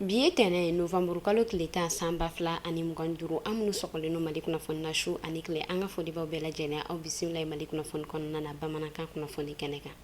bi ye tɛnɛ ye novamburu kalo tile tan san ba fila ani mugan duuru an minnu sɔgɔlen no mali kunnafoni na su ani tile an ka foli b'aw bɛɛ lajɛlen aw bisimila ye mali kunnafoni kɔnɔna na bamanankan kunnafoni kɛnɛ kan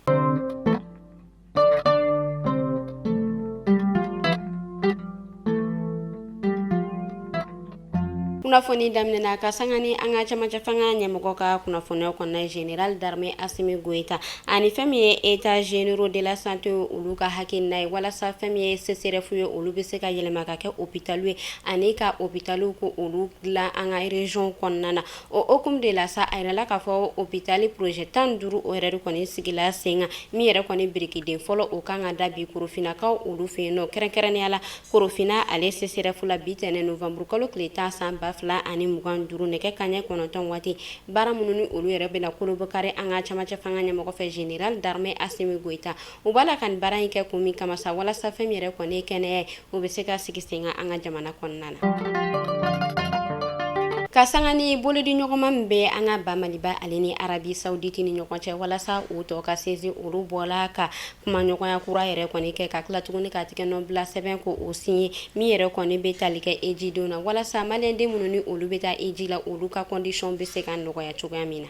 kunnafoni daminɛna ka sanga ni an ka cɛmancɛ fanga ɲɛmɔgɔ ka kunnafoniyaw kɔnɔna général d'armée Asimi Goyita ani fɛn min ye états généraux de la santé olu ka hakilina ye walasa fɛn min ye CSREF ye olu bɛ se ka yɛlɛma ka kɛ hôpital ye ani ka hôpital ko olu dilan an ka région kɔnɔna na. O hukumu de la sa a yirala k'a fɔ hôpital projet tan duuru o yɛrɛ de kɔni sigila sen kan min yɛrɛ kɔni birikiden fɔlɔ o ka kan ka da bi korofinnakaw olu fɛ yen nɔ kɛrɛnkɛrɛnnenya la korofinna ale CSREF la bi tɛnɛ novamburu kalo tile tan san ba fila ani mugan duuru nɛgɛ kanɲɛ kɔnɔntɔn waati baara minnu ni olu yɛrɛ bɛna kolobokari an ka cɛmancɛ fanga ɲɛmɔgɔ fɛ général d'armée Asimi Goyita u b'a la ka nin baara in kɛ kun min kama sa walasa fɛn min yɛrɛ kɔni ye kɛnɛya ye, o bɛ se ka sigi sen kan an ka jamana kɔnɔna na. Ka sanga ni bolodi ɲɔgɔnma min bɛ an ka ba Maliba ale ni Arabi Sawuditi ni ɲɔgɔn cɛ walasa o tɔ ka sinsin olu bɔla ka kumaɲɔgɔnya kura yɛrɛ kɔni kɛ, ka tila tuguni ka tigɛnɔbila sɛbɛn ko o signer min yɛrɛ kɔni bɛ tali kɛ hejidenw na, walasa maliyɛnden minnu ni olu bɛ taa heji la, olu ka conditions bɛ se ka nɔgɔya cogoya min na.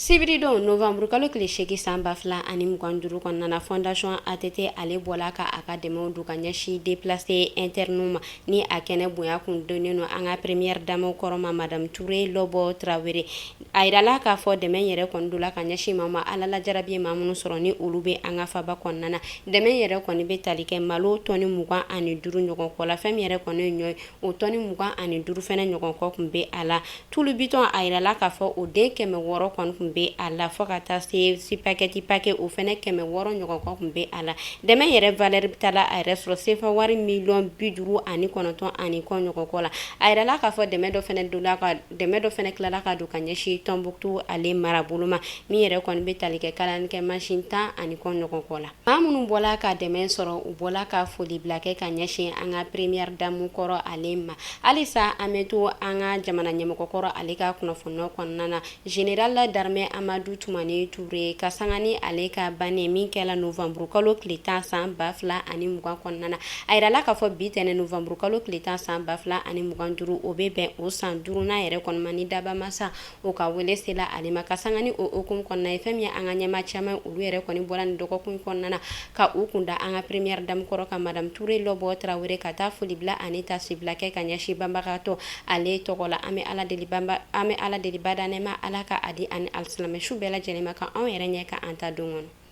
sibiri don novamburu kalo tile seegin san ba fila ani mugan duuru kɔnɔna na fondation att ale bɔla ka a ka dɛmɛw don ka ɲɛsin déplacé interne ma ni a kɛnɛ bonya kun donnen no an ka première dame kɔrɔ ma madame ture lɔbɔ tarawele a yirala k'a fɔ dɛmɛ yɛrɛ kɔni dola ka ɲɛsin maa ma ala la jarabi ye maa minnu sɔrɔ ni olu bɛ an ka faba kɔnɔna na dɛmɛ yɛrɛ kɔni bɛ tali kɛ malo tɔni mugan ani duuru ɲɔgɔn kɔ la fɛn min yɛrɛ kɔni ye ɲɔ ye o tɔni mugan ani duuru fɛnɛ ɲɔgɔn kɔ kun bɛ a la tulu bitɔn a yirala k'a fɔ o den kɛmɛ wɔɔrɔ kɔni kun bɛ a la fɔ ka taa se sipagɛti pakɛ o fɛnɛ kɛmɛ wɔɔrɔ ɲɔgɔn kɔ kun bɛ a la dɛmɛ yɛrɛ valeur bɛ taa a yɛrɛ sɔrɔ sefa wari miliyɔn bi duuru ani kɔnɔntɔn ani kɔ ɲɔgɔn kɔ la a yirala k'a fɔ dɛmɛ dɔ fɛnɛ tilala ka don ka ɲɛsin tɔnbutu ale marabolo ma min yɛrɛ kɔni bɛ tali kɛ kalalikɛ masin tan ani kɔ ɲɔgɔn kɔ la Maa minnu bɔla ka dɛmɛ sɔrɔ u bɔla ka foli bila kɛ ka ɲɛsin an ka première dame kɔrɔ ale ma halisa an bɛ to an ka jamana ɲɛmɔgɔkɔrɔ ale ka kunnafoni kɔnɔna na général d'armée amadu tumani ture ka sanga ni ale ka banni min kɛla novamburu kalo tile tan san ba fila ani mugan kɔnɔna na a yirala k'a fɔ bi tɛnɛ novamburu kalo tile tan san ba fila ani mugan duuru o bɛ bɛn o san duurunan yɛrɛ kɔni ma ni dabaa masa O ka wele sela ale ma ka sanga ni o hukumu kɔnɔna ye fɛn min ye an ka ɲɛma caman olu yɛrɛ kɔni bɔla nin dɔgɔkun kɔnɔna na ka u kun da an ka première dame kɔrɔ kan madame ture lɔbɔ tarawele ka taa foli bila ani tasibila kɛ ka ɲɛsin banbagatɔ ale tɔgɔ la an bɛ ala deli badaa nɛɛma ala ka a di a ni alisilamɛ su bɛɛ lajɛlen ma ka anw yɛrɛ ɲɛ ka an ta don kɔnɔ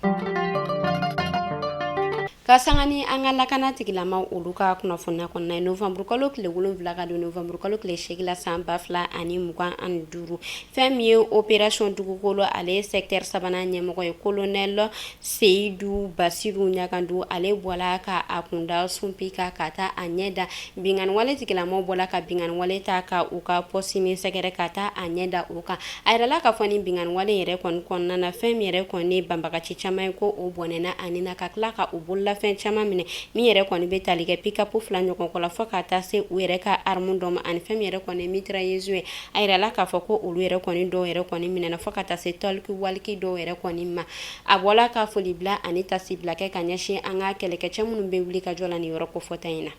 ka sanga ni an ka lakana tigilama olu ka kunnafoniya kɔnɔna ye novanburukalo tile wolonwula ka don novanburukalo tile seegin la san ba fila ani mugan ani duuru fɛn min ye operasɔn dugukolo ale sɛktɛri sabanan ɲɛmɔgɔ ye kolonɛlɔ seyidu basiru ɲagandu ale bɔla ka a kunda sunpi kan ka taa a ɲɛ da binganiwale tigilamaw bɔla ka binganiwale ta ka u ka pɔsiti min sɛgɛrɛ ka taa a ɲɛ da o kan A yirala k'a fɔ nin binganiwale yɛrɛ kɔni kɔnɔna na fɛn min yɛrɛ kɔni banbagaci caman ye ko o bɔnɛna a ni na ka tila ka u bololafɛn caman minɛ min yɛrɛ kɔni bɛ tali kɛ pickup fila ɲɔgɔn kɔ la fɔ ka taa se u yɛrɛ ka arme dɔ ma ani fɛn min yɛrɛ kɔni ye mitrailleuse ye a yirala k'a fɔ ko olu yɛrɛ kɔni dɔw yɛrɛ kɔni minɛna fɔ ka taa se tɔliki waliki dɔw yɛrɛ kɔni ma a bɔla ka foli bila ani tasibila kɛ ka ɲɛsin an ka kɛlɛkɛcɛ minnu bɛ wuli ka jɔ la nin yɔrɔ kofɔta in na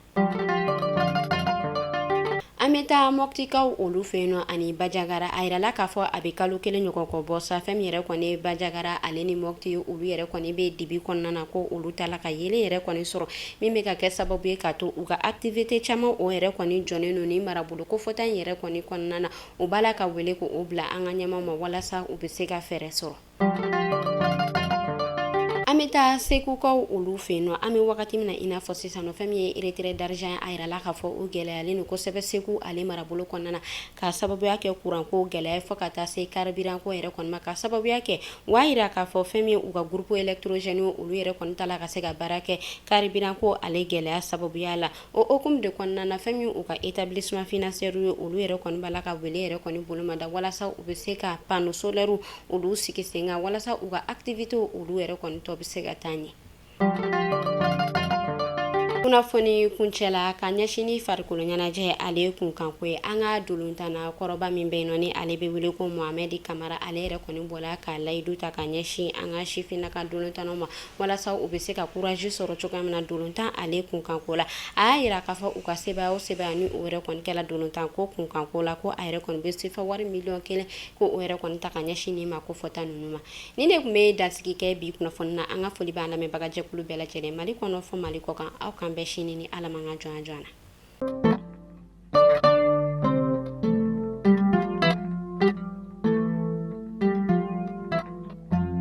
An bɛ taa mɔptikaw olu fɛ yen nɔ ani bajagara a yirala k'a fɔ a bɛ kalo kelen ɲɔgɔn kɔ bɔ sa fɛn min yɛrɛ kɔni ye bajagara ale ni mɔpti olu yɛrɛ kɔni bɛ dibi kɔnɔna na ko olu t'a la ka yeelen yɛrɛ kɔni sɔrɔ min bɛ ka kɛ sababu ye ka to u ka activité caman o yɛrɛ kɔni jɔnen don nin marabolo kofɔta in yɛrɛ kɔni kɔnɔna na u b'a la ka wele ko o bila an ka ɲɛmaw ma walasa u bɛ se ka fɛɛrɛ sɔrɔ an bɛ taa segukaw olu fɛ yen nɔ an bɛ wagati min na i n'a fɔ sisan nɔ fɛn min ye retrait d'argent ye a yirala k'a fɔ o gɛlɛyalen don kosɛbɛ segu ale marabolo kɔnɔna na k'a sababuya kɛ kuranko gɛlɛya fɔ ka taa se karibiranko yɛrɛ kɔni ma k'a sababuya kɛ u y'a yira k'a fɔ fɛn min ye u ka groupe électrogène olu yɛrɛ kɔni t'a la ka se ka baara kɛ karibiranko ale gɛlɛya sababuya la O hukumu de kɔnɔna na fɛn min u ka établissement financier ye olu yɛrɛ kɔni b'a la ka wele yɛrɛ kɔni bolo ma da walasa u bɛ se ka panneau solaire olu sigi sen kan walasa u ka activités olu yɛrɛ kɔni tɔ bɛ se ka taa ɲɛ. Kunnafoni kuncɛ la ka ɲɛsin ni farikolo ɲɛnajɛ ale kunkanko ye an ka dolontana kɔrɔba min bɛ yen nɔ ni ale bɛ wele ko Mohamɛdi Kamara ale yɛrɛ kɔni bɔla ka layidu ta ka ɲɛsin an ka sifinnaka dolontanaw ma walasa u bɛ se ka courage sɔrɔ cogoya min na dolontan ale kunkanko la a y'a yira k'a fɔ u ka sebaaya o sebaaya ni o yɛrɛ kɔni kɛla dolontan ko kunkanko la ko a yɛrɛ kɔni bɛ sefa wari miliyɔn kelen ko o yɛrɛ kɔni ta ka ɲɛsin nin maa kofɔta ninnu ma nin de tun bɛ dansigi kɛ bi kunnafoni na an ka foli b'an lamɛnbagajɛkulu bɛɛ lajɛlen mali kɔnɔ fɔ mali kɔ kan aw k'an bɛn sini ni ala man ka jɔnya jɔnya na